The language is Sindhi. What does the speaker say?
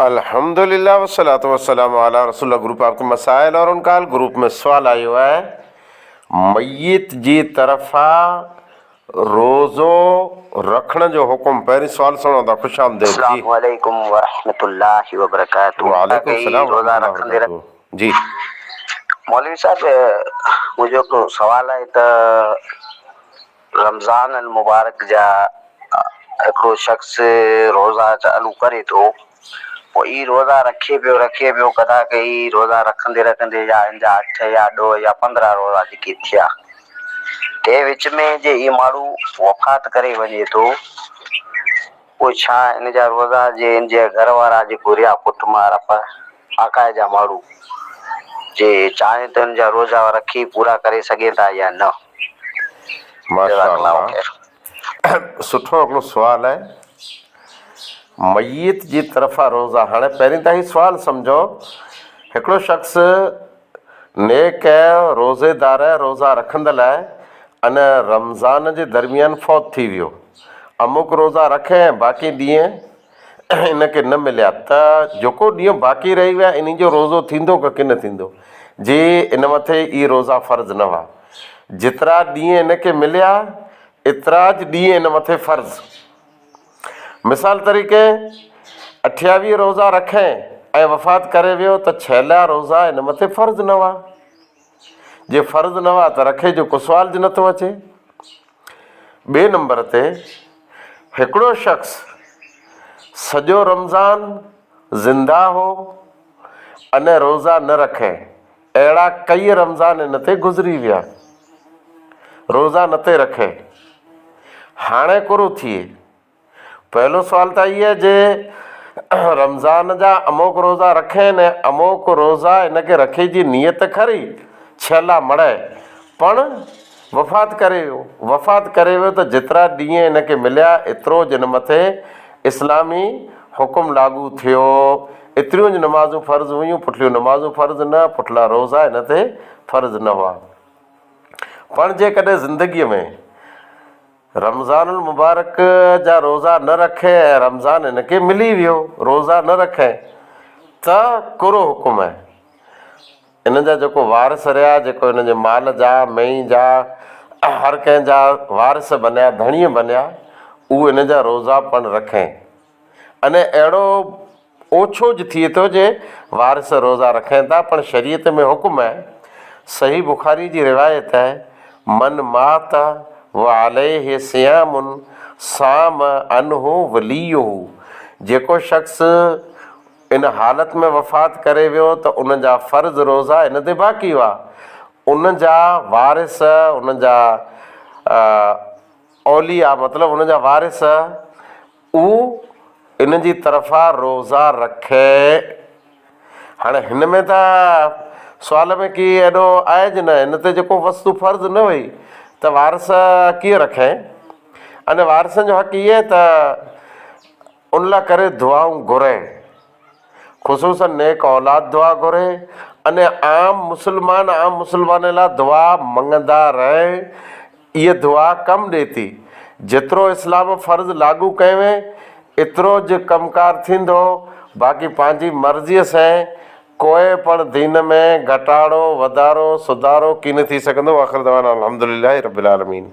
الحمد لله والصلوة والسلام علی رسول الله گروپ آپ ڪي مسائل اور ان کا حل گروپ ۾ سوال آيو آهي ميت جي طرفان روزو رکڻ جو حڪم پهرين سوال سڻو ٿا خوش آمديد جي اسلام عليڪم ورحمة الله وبرڪاته وعليڪم السلام ورحمة الله وبرڪاته جي مولوي صاحب منهنجو هڪ سوال آهي ته رمضان المبارڪ جا هڪڙو شخص روزا چالو ڪري ٿو پوء هي روزا رکي پيو رکي پيو ڪدا ڪي هي روزا رکندي رکندي يا هن جا اٺ يا ڏهه يا پندرهن روزا جيڪي ٿيا تنهن وچ ۾ جي هي ماڻهو وفات ڪري وڃي ٿو. پوء ڇا ان جا روزگار جي ان جي گهر وارا جي گهريا پٽ مار اپ آڪاهي جا ماڙهو جي چاهين ته ان جا روزا رکي پورا ڪري سگهين ٿا يا نه جزاڪ الله خير. سٺو هڪڙو سوال آهي ميت جي طرفان روزا هاڻي پهرين ته هي سوال سمجهو هڪڙو شخص نيڪ روزيدار روزا رکندل ان رمضان جي درميان فوت ٿي ويو. اموڪ روزا رک ۽ باقي ڏينهن ان کي نه مليا ته جيڪو ڏينهن باقي رهي ويا انهي جو روزو ٿيندو ڪه ڪي نه ٿيندو جي ان مٿي اهي روزا فرض نه هئا جيترا ڏينهن ان کي مليا اتراج ڏينهن ان مٿي فرض مثال طريقي، اٺياويهه روزا رکي ۽ وفات ڪري ويو ته ڇيلها روزا هن مٿي فرض نه هئا. جي فرض نه هئا ته رکي جو ڪسوال جي نٿو اچي. ٻئي نمبر تي هڪڙو شخص سڄو رمضان زنده هو اني روزا نه رکي. اهڙا ڪيئي رمضان هن تي گذري ويا. روزا نٿي رکي. هاڻي ڪورو ٿئي. پهلو سوال ته هيء جي رمضان جا اموڪ روزا رکين ۽ اموڪ روزا هن کي رکي جي نيت کري ڇيلا مڙهي پڻ وفات ڪري ويو، وفات ڪري ويو ته جيترا ڏينهن هن کي مليا ايترو جن مٿي اسلامي حڪم لاڳو ٿيو، ايتريون جن نمازون فرض هيون، پٺليون نمازون فرض نه، پٺلا روزا هن تي فرض نه هئا. پڻ جيڪڏهن زندگيء ۾ رمضان المبارڪ جا روزا نه رکئي ۽ رمضان هن کي ملي ويو روزا نه رکئي ته ڪهڙو حڪم آهي؟ هن جا جيڪو وارث رهيا، جيڪو هن جي مال جا، مينهن جا، هر ڪنهن جا وارث بنيا، ڌڻيء بنيا، اهو هن جا روزا پڻ رکين. انهيء اهڙو اوڇو جي ٿئي ٿو جي وارث روزا رکين ٿا، پڻ شريعت ۾ حڪم آهي، صحيح بخاريء جي روايت آهي، من مات وعليه صيام صام عنه وليه، جيڪو شخص، ان حالت ۾ وفات ڪري ويو ته ان جا فرض روزا هن تي باقي هئا. ان جا وارث، ان جا اولياء مطلب ان جا وارث اهو ان جي طرفان روزا رکي. هاڻي هن ۾ ته سوال ۾ ڪي ايڏو آهي جي نه هن تي جيڪو وصف فرض نه هئي ته وارث ڪيئن رکين. ان وارثن جو حق هي ته ان لا ڪري دعائون گهرين خصوصن نيڪ اولاد دعا گهري اني عام مسلمان عام مسلمان لا دعا منگندا رهين اي دعا ڪم ڏي ٿي جيترو اسلام فرض لاڳو ڪيوين اترو ج ڪم ڪار ٿيندو باقي پنهنجي مرضي سين ڪوئي پڻ دين ۾ گهٽاڙو وڌارو سڌارو ڪين ٿي سگهندو واخر دعوانا الحمدلله رب العالمين.